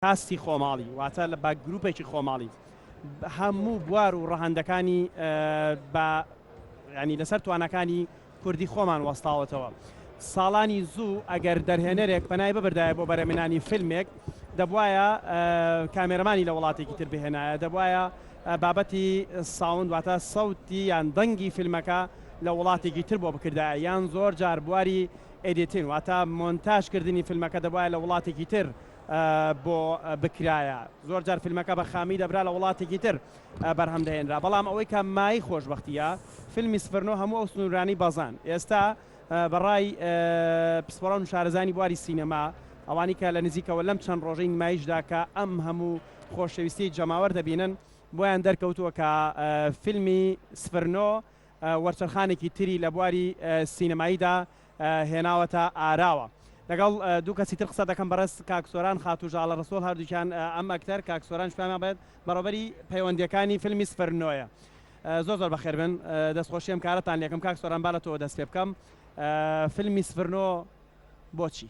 ئاستی خۆماڵی واتە لە بە گروپێکی خۆماڵی هەموو بوار و ڕەهەندەکانی بە ینی لەسەر توانەکانی کوردی خۆمان وەستاوەتەوە ساڵانی زوو ئەگەر دەرهێنەرێک پەنای ببردایە بۆ بەرەمێنانی فیلمێک دەبواە کامێرەمانی لە وڵاتێکی تر بهێنایە دەبواە بابەتی ساون واتە سەوتی یان دەنگی فیلمەکە لە وڵاتێکی تر بۆ بکردایە یان زۆر جار بواری ئەدیتین واتە مۆنتاژکردنی فیلمەکە دەبواە لە وڵاتێکی تر بۆ بکرایە زۆر جار فیلمەکە بە خامی دەبرا لە وڵاتێکی تر بەرهەم دەهێنرا بەڵام ئەوەی کە مایەی خۆشبەختییە فیلمی سڤرنۆ هەموو ئەو سنوورانەی بەزاند ئێستا بە ڕای پسپۆڕان و شارەزانی بواری سینەما ئەوانی کە لە نزیکەوە لەم چەند ڕۆژەی نمایشدا کە ئەم هەموو خۆشەویستی جەماوەر دەبینن بۆیان دەرکەوتووە کە فیلمی سڤرنۆ وەرچەرخانێکی تری لە بواری سینەماییدا هێناوەتە ئاراوە. لەگەڵ دوو کەسی تر قسە دەکەم بەڕێز کاک سۆران خاتوو ژاڵە ڕەسوڵ هەردووکیان ئەم ئەکتەر کاک سۆرانش پێمان بڵێت بەڕێوەبەری پەیوەندییەکانی فیلمی سفر نۆیە. زۆر زۆر بەخێر بێن دەستخۆشی ئەم کارەتان لێکم کاک سۆران با لە تۆوە دەست پێ بکەم فیلمی سفر نۆ بۆچی؟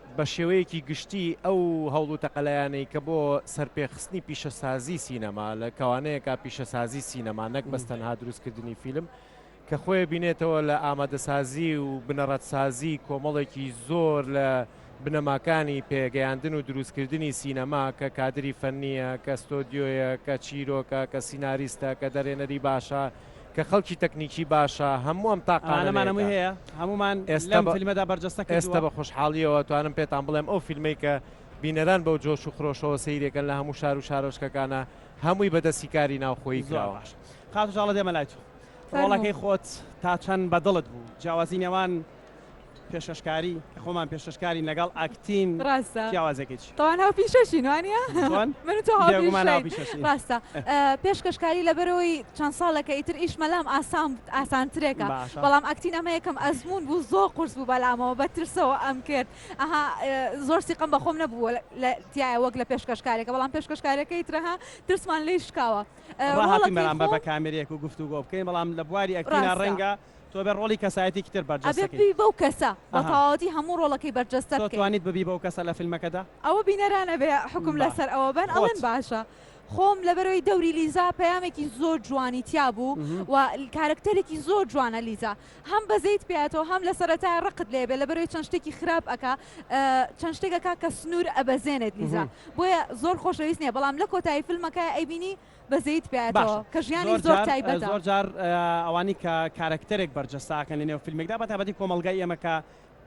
بە شێوەیەکی گشتی ئەو هەوڵ و تەقەلایانەی کە بۆ سەرپێخستنی پیشەسازی سینەما لە کەوانەیەکا پیشەسازی سینەما نەک بەس تەنها دروستکردنی فیلم کە خۆێ بینێتەوە لە ئامادەسازی و بنەڕەتسازی کۆمەڵێکی زۆر لە بنەماکانی پێگەیاندن و دروستکردنی سینەما کە کادری فەنیە کە ستۆدیۆیە کە چیرۆکە کە سیناریستە کە دەرێنەری باشە کە خەڵکی تەکنیکی باشە هەموو ئەم تاقانەمان ئێستا فیلمەدا بەرجەستە ئێستا بە خۆشحاڵیەوە توانم پێتان بڵێم ئەو فیلمەی کە بینەران بەو جۆش و خرۆشەوە سیرێکن لە هەموو شار و شارۆچکەکانە هەمووی بەدەستی کاری ناوخۆی زراوە خاتوژاڵە دێمە لای تۆ ڕۆڵەکەی خۆت تا چەند بەدڵت بوو جیاوازی نێوان پێشکەشکاری خۆمان پێشکەشکارین لەگەڵ ئاکتین ڕاستە جیاوازێکیش تەوان هاو پیشەشین وانە من تۆ ڕاستە پێشکەشکاری لەبەرەوەی چەند ساڵەکە ئیتر ئیش مەلام ئاسان ئاسانترێکە بەڵام ئەکتین ئەمە یەکەم ئەزمون بوو زۆ قرس بوو بەلامەوە بە ترسەوە ئەم کرد ئەها زۆر سیقم بەخۆم نەبووە لە تایە وەک لە پێشکەشکارێکە بەڵام پێشکەشکارەکەی ترەها ترسمان لی شکاوە بەرامبەر بە کامێرێک و گفتوگۆ بکەین بەڵام لە بواری ئەکتینە ڕەنگە تۆ ئەبێ ڕۆڵی کەسایەتیکی تر بەرجەستە کەی. ئەبێ ببی بەو کەسە. بە تەواوەتی هەموو ڕۆڵەکەی بەرجەستە بکەی. تۆ توانیت ببی بەو کەسە لە فیلمەکەدا؟ ئەوە بینەران ئەبێ حوکم لە سەر ئەوە بەن. ئەڵێن باشە. خۆم لەبەرەوەی دەوری لیزا پەیامێکی زۆر جوانی تیا بوو و کارەکتەرێکی زۆر جوانە لیزا. هەم بەزەیت پێیاتەوە هەم لە سەرەتایە ڕقت لێ ئەبێ لەبەرەوەی چەند شتێکی خراپ ئەکا چەند شتێک ئەکا کە سنوور ئەبەزێنێت لیزا. بۆیە زۆر خۆشەویست نیە بەڵام لە کۆتایی فیلمەکەیا ئەیبینی بەزەییت پیایەتەوە کە ژیانی زۆر تایبەتە. باشە زۆر جار ئەوانەی کە کارەکتەرێک بەرجەستە ئەکەن لەنێو فیلمێکدا بە تایبەتی کۆمەڵگای ئێمە کە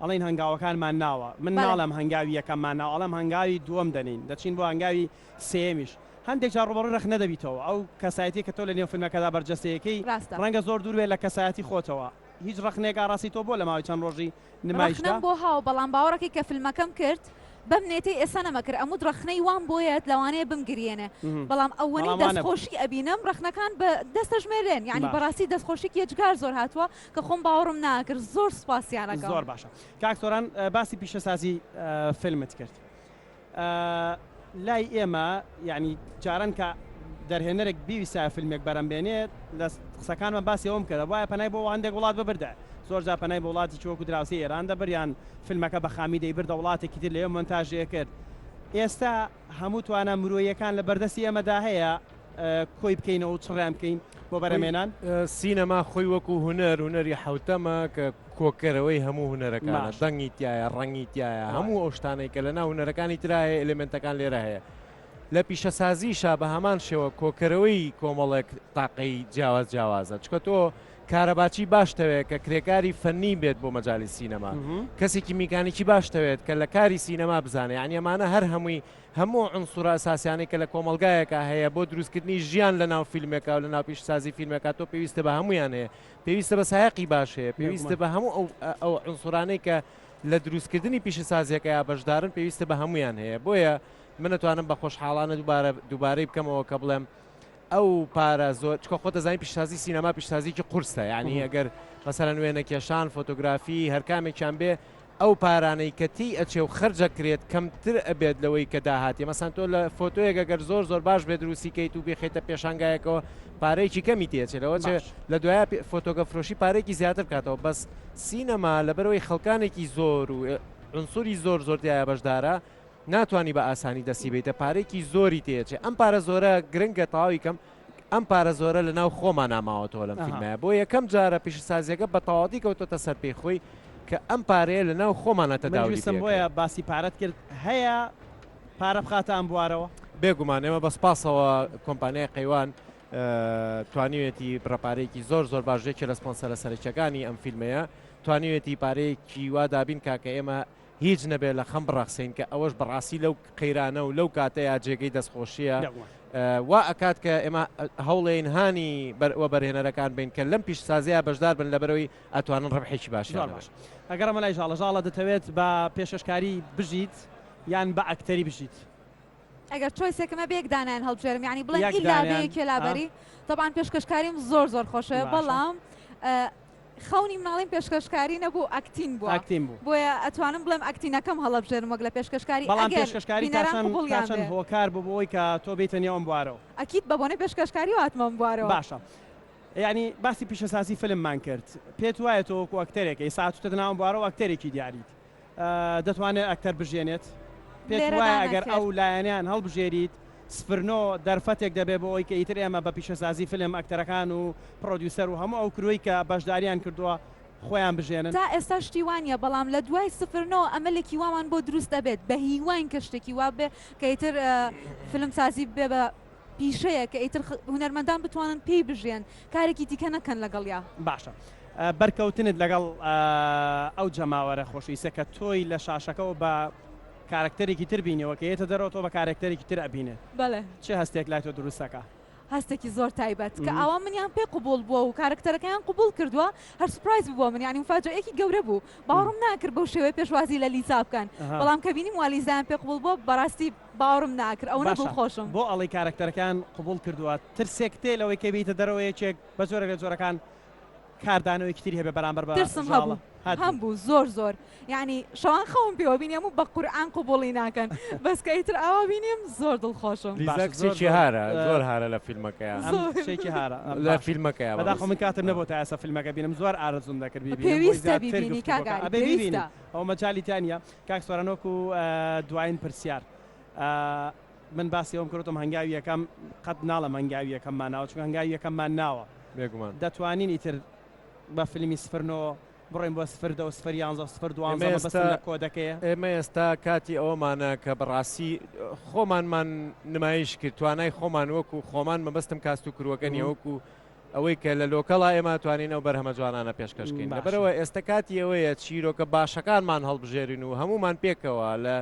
ئەڵێن هەنگاوەکانمان ناوە من ناڵێم هەنگاوی یەکەممان ناوە ئەڵێم هەنگاوی دووەم دەنێین دەچین بۆ هەنگاوی سێیەمیش هەندێک جار ڕووبەڕووی ڕەخنە دەبیتەوە ئەو کەسایەتییە کە تۆ لەنێو فیلمەکەدا بەرجەستەیەکەی ڕەنگە زۆر دوور بێت لە کەسایەتی خۆتەوە هیچ ڕەخنێک ئاڕاستی تۆ بۆ لە ماوەی چەند ڕۆژی ڕەخنەم بۆ هاو بەڵام باوەڕەکەی کە فلمەکەم کرد بەم نێتەی ئێستا نەمەکرد ئەموت ڕەخنەی وام بۆیەت لەوانەیە بمگریێنێ بەڵام ئەوەنەی دەست خۆشی ئەبینم ڕەخنەکان بە دەستە ژمێرێن یانی بەڕاستی دەست خۆشیک یەجگار زۆر هاتووە کە خۆم باوەڕم ناکرد زۆر سوپاسیانەکەم. زۆر باشە کاک سۆران باسی پیشەسازی فلمت کرد. ئە لای ئێمە یانی جاران کە دەرهێنەرێک بیویسایە فیلمێک بەرەم بێنێت لە قسەکانمە باسی ئەوەم کردە بایە پەنای بۆ هەندێک وڵات ببردە زۆر جار پەنای بۆ وڵاتی چ وەکو دراوسی ئێران دەبر یان فیلمەکە بە خامی دەیبردە وڵاتێکی تر لەوێ مۆنتاژی ئەکرد ئێستا هەموو توانا مرۆییەکان لە بەردەستی ئێمەدا هەیە کۆی بکەینەوە و چڕیان بکەین بۆ بەرەمێنان. سینەما خۆی وەکو هونەر هونەری حەوتەمە کە. کۆکەرەوەی هەموو هونەرەکانە دەنگی تایە ڕەنگی تایە هەموو ئەو شتانەی کە لە ناو هونەرەکانی ترایە ئەلمنتەکان لێرە هەیە لە پیشەسازیشە بە هەمان شێوە کۆکەرەوەی کۆمەڵێک تاقەی جیاواز جیاوازە چکە تۆ کارەباچی باشتەوێت کە کرێکاری فەنی بێت بۆ مەجای سینەما کەسێکی میکانیکی باشتەوێت کە لە کاری سینەما بزانێت یان ئەمانە هەر هەمووی هەموو ئەنسورە ساسیانی کە لە کۆمەلگایەکە هەیە بۆ دروستکردنی ژیان لە ناو فیلمێکا و لە ناپیشسازی فیلمێکا تۆ پێویستە بە هەمویانەیە پێویستە بە سایەقی باش هەیە، پێویستە بە هەموو ئەو عنسرانەی کە لە دروستکردنی پیشەسازیەکەیا بەشدارن پێویستە بە هەمویان هەیە بۆیە من نەتوانم بە خۆشحاڵانە دووبارە دووبارەی بکەمەوە کە بڵێم ئەو پارە زۆر چکە خۆ دەزانین پیشسازی سینەما پیشسازیکی قورسە یعنی ئەگەر مەسەرەن وێنە کێشان فۆتۆگرافی هەرکامێکیان بێ ئەو پارانەی کە تێی ئەچێ و خەرج ئەکرێت کەمتر ئەبێت لەوەی کە داهاتی مەسەن تۆ لە فۆتۆیەک گەر زۆر زۆر باش بێ دروستی کەیت و بێخیتە پێشانگایەکەوە پارەیەکی کەمی تێچێت لەوە چێ لە دوایە فۆتۆگە فرۆشی پارێکی زیاتر بکاتەوە بەس سینەما لەبەرەوەی خەڵکانێکی زۆر و عنسوری زۆر زۆر دیایە بەشدارە ناتوانانی بە ئاسانی دەسی بیتە پارێکی زۆری تێچێ ئەم پارە زۆرە گرنگە تاویکەم ئەم پارە زۆرە لە ناو خۆمانا ماوەتەوە لەم فیلمە بۆ یەکەم جارە پیشەسازیەکە بە تەواتی کەوتۆتە سەر پێی خۆی کە ئەم پارەیە لە ناو خۆمانە تەداویستم بۆیە باسی پارەت کرد هەیە پارە بخاتە ئەم بوارەوە بێگومان ئێمە بەس پاسەوە کۆمپانیای قەیوان توانیوێتی بڕەپارێکی زۆر زۆر باشێکی لە سپۆنسەرە سەرچەکانی ئەم فیلمەیە توانیوێتی پارەیەکی وادابین کاکە ئێمە هیچ نەبێ لە خەم بڕەخسێین کە ئەوەش بەڕاستی لەو قەیرانە و لەو کاتەیا جێگەی دەستخۆشییە. وا ئەکات کە ئێمە هەوڵێین هانی وەبەرهێنەرەکان بین کە لەم پیشەسازییە بەشدار بن لەبەرەوەی ئەتوانن ڕەبحێکی باشیان هەبێ. ئەگەڕێمە لای ژاڵە. ژاڵە دەتەوێت بە پێشکەشکاری بژیت یان بە ئەکتەری بژیت؟ ئەگەر چۆیسێکم هەبێ یەک دانەیان هەڵبژێرم یانی بڵێن ئیلا بێ یەکێ لابەری. تەبعەن پێشکەشکاریم زۆر زۆر خۆشە بەڵام خەونی مناڵیم پێشکەشکاری نەبوو ئەکتین بووە ئەکتین بوو. بۆیە ئەتوانم بڵێم ئەکتینەکەم هەڵەبژێرم وەک لە پێشکەشکاری بەڵام ئەگەر پێشکەشکاری تا بینەران چەند قبوڵیان تا چەند بێ. هۆکار بوو بۆوەی کە تۆ بێیتە نێو ئەم بوارەوە؟ ئەکید بە بۆنەی پێشکەشکاریەوە هاتمە ئەم بوارەوە. باشە یانی باسی پیشەسازی فیلممان کرد پێت وایە تۆ وەکو ئەکتەرێک ئێستا هاتووتەتە ناو ئەم بوارەوە ئەکتەرێکی دیاریت، دەتوانێت ئەکتەر بژیێنێت؟ پێت وایە ئەگەر ئەو لایەنەیان هەڵبژێریت سفر نۆ دەرفەتێک دەبێت بۆ ئەوەی کە ئیتر ئێمە بە پیشەسازی فیلم ئەکتەرەکان و پڕۆدیوسەر و هەموو ئەو کرۆی کە بەشداریان کردووە خۆیان بژێنن؟ تا ئێستا شتی وا نییە، بەڵام لە دوای سفر نۆ ئەمەلێکی وامان بۆ دروست ئەبێت، بە هیواین کە شتێکی وا بێت کە ئیتر فیلمسازی ببێت بە پیشەیە کە ئیتر هونەرمەندان بتوانن پێی بژێن کارێکی دیکە نەکەن لەگەڵیا. باشە بەرکەوتنت لەگەڵ ئەو جەماوەرە خۆشەویستە کە تۆی لە شاشەکەوە بە کارەکتەرێکی تر بینیوە کە یێتە دەرەوە تۆ بە کارەکتەرێکی تر ئەبینێ بەڵێ. چ هەستێک لای تۆ دروست دەکا؟ هەستێکی زۆر تایبەت کە ئاوا منیان پێ قبوڵ بووە و کارەکتەرەکەیان قبوڵ کردووە هەر سوپرایز بوو بۆ من یانی موفاجەئەیەکی گەورە بوو باوەڕم ناکرد بەو شێوەیە پێشوازی لە لیزا بکەن بەڵام کە بینیم وا لیزایان پێ قبوڵ بووە بەڕاستی باوەڕم ناکرد ئەوەنە باشە دڵخۆشم. بۆ ئەڵێی کارەکتەرەکەیان قبوڵ کردووە ترسێکت هەیە لەوەی کە بێیتە دەرەوە یەکێک بە جۆرێک لە جۆرەکان کاردانەوەیەکی تری هەبێت بەرامبەر بە ترسم هەبوو زاڵە هەت بوو. هەبوو زۆر زۆر یانی شەوان خەوم پێوە بینی ئەموو بە قورعان قبوڵی ناکەن بەس کە ئیتر ئاوا بینیم زۆر دڵخۆشم. لیزا باشە زۆر کچێکی زۆر هارە زۆر هارە لە فیلمەکەیا ئەم زۆر کچێکی هارە ئەم لە باشە فیلمەکەیا بەداخەوە من بەڕێزم کاتم نەبوو تا ئێستا فیلمەکە بینم زۆر ئارەزووم دەکرد بیبینم بۆی پێویستە زیاتر بیبینی گفتوگۆکە کاک ئاری ئەبێ بیبینی پێویستە. ئەوە مەجالی تیا نیە کاک سۆران وەکو دواین پرسیار من باسی ئەوم کردوتم هەنگاوی یەکەم قەت ناڵم هەنگاوی یەکەم ماناوە چون هەنگاوی یەکەم مان ناوە بێگومان دەتوانین ئیتر بە فیلمی سفر نۆ بڕۆین بۆ سفر دە و سفر یانزە و سفر دوانزە ئێمە بەس ئێستا لە کۆدەکەیە ئێمە ئێستا کاتی ئەوەمانە کە بەڕاستی خۆمانمان نمایش کرد توانای خۆمان وەکو خۆمان مەبەستم کاست و کروەکە نیە وەکو ئەوەی کە لە لۆکەڵا ئێمە ئەتوانین ئەو بەرهەمە جوانانە پێشکەش کەین لەبەرەوە ئێستە کاتی ئەوەیە چیرۆکە باشەکانمان هەڵبژێرین و هەموومان پێکەوە لە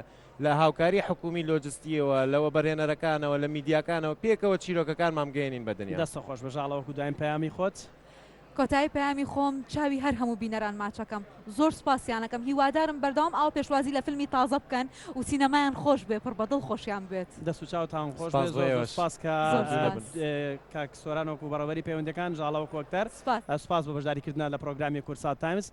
لە هاوکاری حکومی لۆجستیەوە لە وەبەرهێنەرەکانەوە لە میدیاکانەوە پێکەوە چیرۆکەکانمان بگەێنین بە دنیا. دەستت خۆش بژاڵە وەکو دوایین پەیامی خۆت. کۆتایی پەیامی خۆم چاوی هەر هەموو بینەران ماچەکەم. زۆر سوپاسیانەکەم هیوادارم بەردەوام ئاوا پێشوازی لە فیلمی تازە بکەن و سینەمایان خۆش بێ پڕ بە دڵ خۆشیان بوێت. دەست و چاوتان خۆش بێ سوپاس بۆ زۆر زۆر ئێوەش. سوپاس کە زۆر ماندوو نەبن. سوپاس. کاک سۆران وەکو بەڕێوەبەری پەیوەندیەکان ژاڵە وەکو ئەکتەر سوپاس. سوپاس بۆ بەشداریکردنە لە پڕۆگرامی کوردسات تایمز.